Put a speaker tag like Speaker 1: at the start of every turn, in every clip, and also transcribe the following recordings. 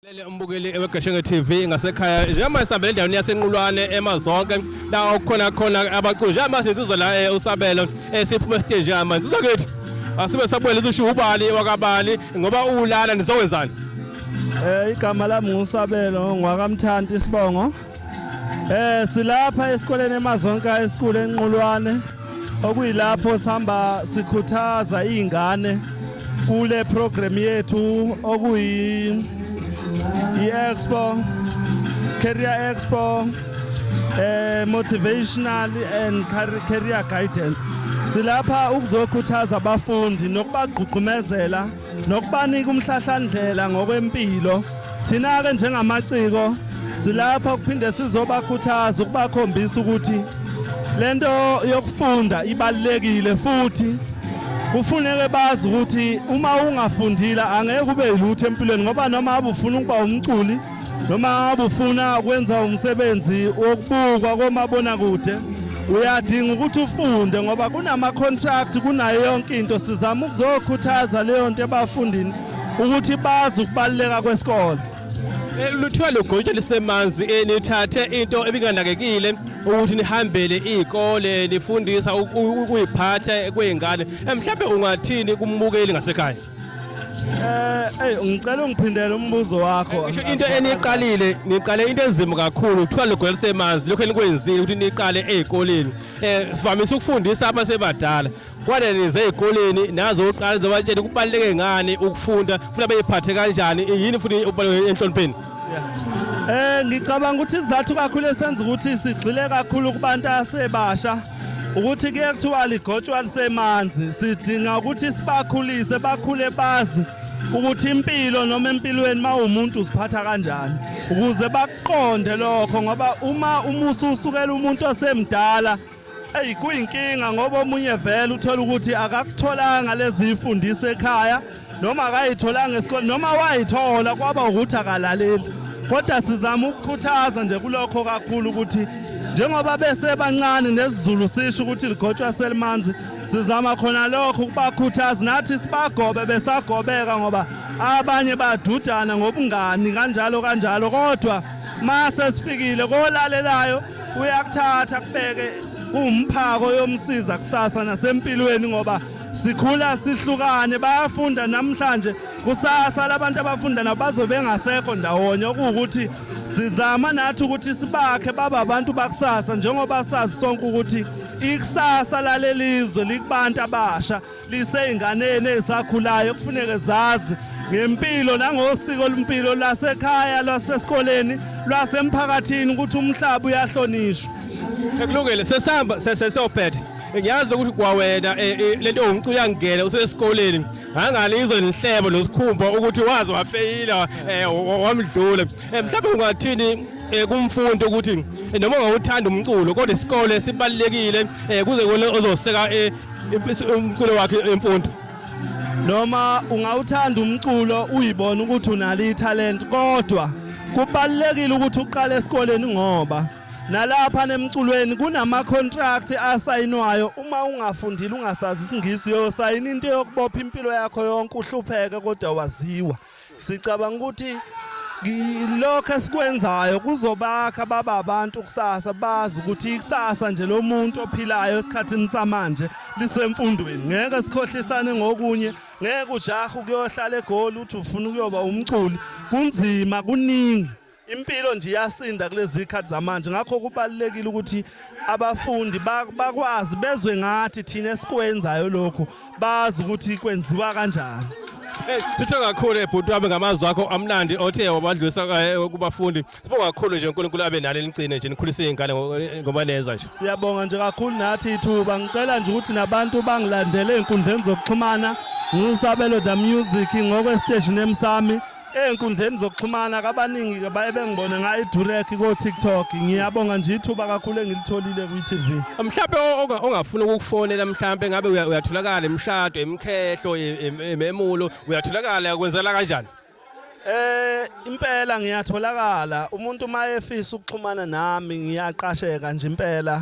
Speaker 1: Lele umbukeli eweGashenge TV ngasekhaya njengoba sihambela endaweni yasenqulwane emazonke la okukhona khona abaculi njengoba sinsizwa la eh, usabelo eh, siphuma esiteji njengoba insizwa kithi asibe sabuyela usho ubani wakabani ngoba ulana nizokwenzani Eh
Speaker 2: igama lami ngusabelo ngwakamthanti isibongo Eh silapha esikoleni eMazonka esikhulu enqulwane okuyilapho sihamba sikhuthaza izingane kule program yethu okuyi i-expo career expo eh motivational and career guidance silapha ukuzokhuthaza abafundi nokubagqugqumezela nokubanika umhlahlandlela ngokwempilo thina-ke njengamaciko silapha kuphinde sizobakhuthaza ukubakhombisa ukuthi le nto yokufunda ibalulekile futhi kufuneke bazi ukuthi uma ungafundile angeke ube yilutho empilweni ngoba noma abufuna ukuba umculi noma ngabe ufuna ukwenza umsebenzi wokubukwa komabonakude uyadinga ukuthi ufunde ngoba kunama-contract kunayo yonke into sizama ukuzokhuthaza leyo nto ebafundini ukuthi bazi ukubaluleka kwesikole eh, luthiwa
Speaker 1: lugotsha lisemanzi eh, nithathe into ebinganakekile ukuthi nihambele iy'kole nifundisa ukuyiphatha kwey'ngane eh, mhlawumbe ungathini kumbukeli ngasekhaya Eh, hey
Speaker 2: ngicela ungiphindele umbuzo wakho. Ngisho into eniqalile,
Speaker 1: niqale into enzima kakhulu, kuthiwa ligwelise emanzi, lokho enikwenzile ukuthi niqale ezikoleni. Eh, vamise ukufundisa abantu sebadala. Kwade nize ezikoleni nazo uqala ngizobatshela kubaleke ngani ukufunda, futhi abeyiphathe kanjani, yini futhi ubaleke enhlonipheni. Eh, ngicabanga
Speaker 2: ukuthi izathu kakhulu esenza ukuthi sigxile kakhulu kubantu asebasha. ukuthi kuye kuthiwa ligotshwa lisemanzi sidinga ukuthi sibakhulise bakhule bazi ukuthi impilo noma empilweni mawumuntu usiphatha kanjani ukuze bakuqonde lokho ngoba uma umusa usukela umuntu osemdala eyi kuyinkinga ngoba omunye vele uthola ukuthi akakutholanga lezi mfundiso ekhaya noma akayitholanga esikoleni noma wayithola kwaba ukuthi akalaleli kodwa sizama ukukhuthaza nje kulokho kakhulu ukuthi njengoba besebancane nesizulu sisho ukuthi ligotshwa selimanzi sizama khona lokho ukubakhuthaza nathi sibagobe besagobeka ngoba abanye badudana ngobungani kanjalo kanjalo kodwa mase sifikile kolalelayo uyakuthatha kubeke kumphako yomsiza kusasa nasempilweni ngoba sikhula sihlukane bayafunda namhlanje kusasa labantu abafunda nabo bazobe bengasekho ndawonye okuwukuthi sizama nathi ukuthi sibakhe baba abantu bakusasa njengoba sazi sonke ukuthi ikusasa lalelizwe likubantu abasha liseyinganeni ezisakhulayo kufuneke zazi ngempilo nangosiko lempilo lasekhaya lwasesikoleni lwasemphakathini ukuthi umhlaba uyahlonishwa ekulungile
Speaker 1: sesihamba sesiyophetha ngiyazi ukuthi kwawena eh, eh, lento ongicula uyangigele usesikoleni ngangale izwe nihlebo nosikhumba ukuthi wazi wafeyila eh, wamdlula mhlawumbe ungathini kumfundi ukuthi noma ungawuthanda umculo kodwa isikole sibalekile kuze kone ozoseka umculo wakhe emfundo noma
Speaker 2: ungawuthanda umculo uyibona ukuthi unalo ithalent kodwa kubalekile ukuthi uqale esikoleni ngoba Nalapha nemculweni kunama contract asayinwayo uma ungafundile ungasazi isingisi yosayina into yokubopha impilo yakho yonke uhlupheke kodwa waziwa. Sicabanga ukuthi lokho esikwenzayo kuzobakha baba abantu kusasa bazi ukuthi ikusasa nje lo muntu ophilayo esikhathini samanje lisemfundweni ngeke sikhohlisane ngokunye ngeke ujaha ukuyohlala egoli uthi ufuna ukuyoba umculi kunzima kuningi Impilo nje iyasinda kulezi khathi zamanje ngakho kubalekile ukuthi abafundi bakwazi bezwe ngathi thina esikwenzayo lokhu bazi ukuthi kwenziwa kanjani. Eh, Sithe
Speaker 1: kakhulu ebhuti wami ngamazwi wakho amnandi othe wabadlulisa eh, kubafundi. Sibonga kakhulu nje uNkulunkulu abe nalo eligcine nje nikhulise izingane eh, ngoba neza nje. Siyabonga nje kakhulu
Speaker 2: nathi ithuba ngicela nje ukuthi nabantu bangilandele enkundleni zokuxhumana ngisabelo the music ngokwestage nemsami Ey'nkundleni zokuxhumana kabaningi baye bengibone ngayo iDurek ko-TikTok. Ngiyabonga nje ithuba kakhulu engilitholile kwi-TV. Mhlampe o- onga-
Speaker 1: ongafuna ukukufonela mhlampe ngabe uya- uyatholakala emshado, emkhehlo, e- em- ememulo, uyatholakala kwenzela kanjani? Eh impela
Speaker 2: ngiyatholakala umuntu uma efisa ukuxhumana nami ngiyaqasheka nje impela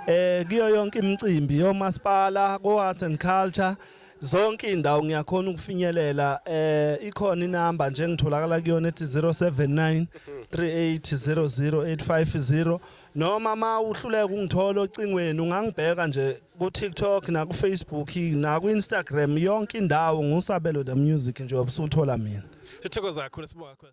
Speaker 2: eh kuyo yonke imicimbi yomasipala ko Arts and Culture zonke izindawo ngiyakhona ukufinyelela eh ikhona inamba nje ngitholakala kuyona ethi 079 3800850 noma ma uhluleka ungithola ocingweni ungangibheka nje ku TikTok na ku Facebook na ku Instagram yonke indawo ngusabelo the music nje obusuthola mina sithokoza kakhulu
Speaker 1: sibonga
Speaker 2: kakhulu